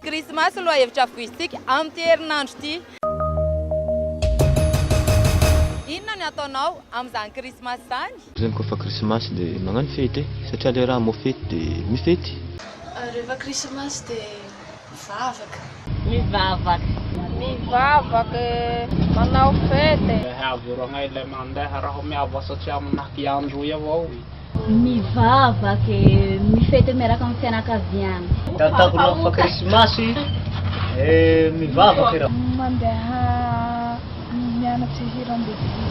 Krismasy no lohahevitra voizintsika amin'ity herinandro ity. Inona ny ataonao amin'izany Krismasy izany? Zany koa fa krisimasy de magnano fety e! Satria le raha mo fety de mifety. Rehefa krisimasy de mivavaka. Mivavaka. Mivavaka e! Manao fety e! Ehe avy eo ragnahy ilay mandeha raho miavasa tsy aminah i androy avao e! Mivavaka e! Mifety eo miaraka amin'ny fianakaviana. Ataoko rehefa fa krisimasy e! Mivavaka e! Mandeha mianatra hira an-devoly.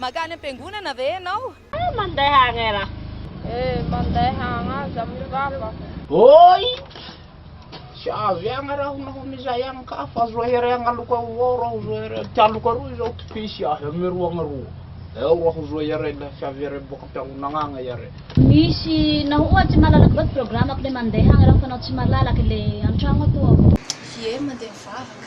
Mankany am-piangonana ve ianao? Eh mandeha agny ra. Eh mandeha agny aza amy vava. Oi! Tsy avy agny raho naho mizay agny ka fa zohere agny aloka avao raho zohere ty aloka aroa izao ty pisy ahy amy roa agny aroa eo raho zohere le fiaviere boaka am-piangonagna agny iare. Misy naho oa tsy malalaka vao ty programme-ko le mandeha agny raho fa naho tsy malalaka le an-tragno atoa avao. Ie mandeha mivavaka.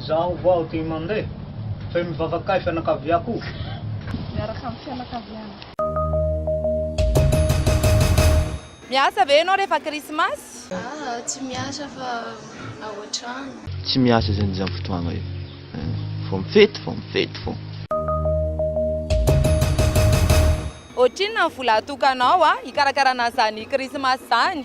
Zaho vao aty mandeha. Fe mivavaka ahy fianakaviako. Miaraka amin'ny fianakaviana. Miasa ve ianao rehefa krismasy? Aah tsy miasa fa ao an-trano. Tsy miasa zany izany fotoagna io. Vao mifety vao mifety fô. Ohatrinona ny vola atokanao hikarakara an'izany krismasy izany?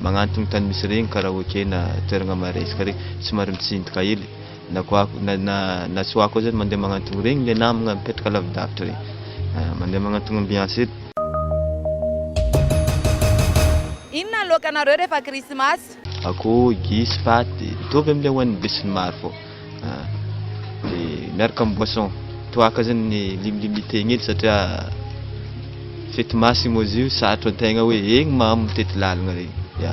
Magnantogno tany misy regny karaoke na toeragna maresaka regny somary mitsinjaka hely na koa na na na tsy hoako zany mandeha magnantogno regny le namagna mipetraka lavidavitra regny ah mandeha magnantogno ambiance hely. Inona loka nareo refa krismasy? Akoho, gisy, paty, mitovy amle hoan'ny besinimaro fô. ah, dia miaraka amin'ny boisson toaka zany ny limlimite egny edy satria fety masy moa izy io sarotro antegna hoe egny mamo mitety lalagna regny ya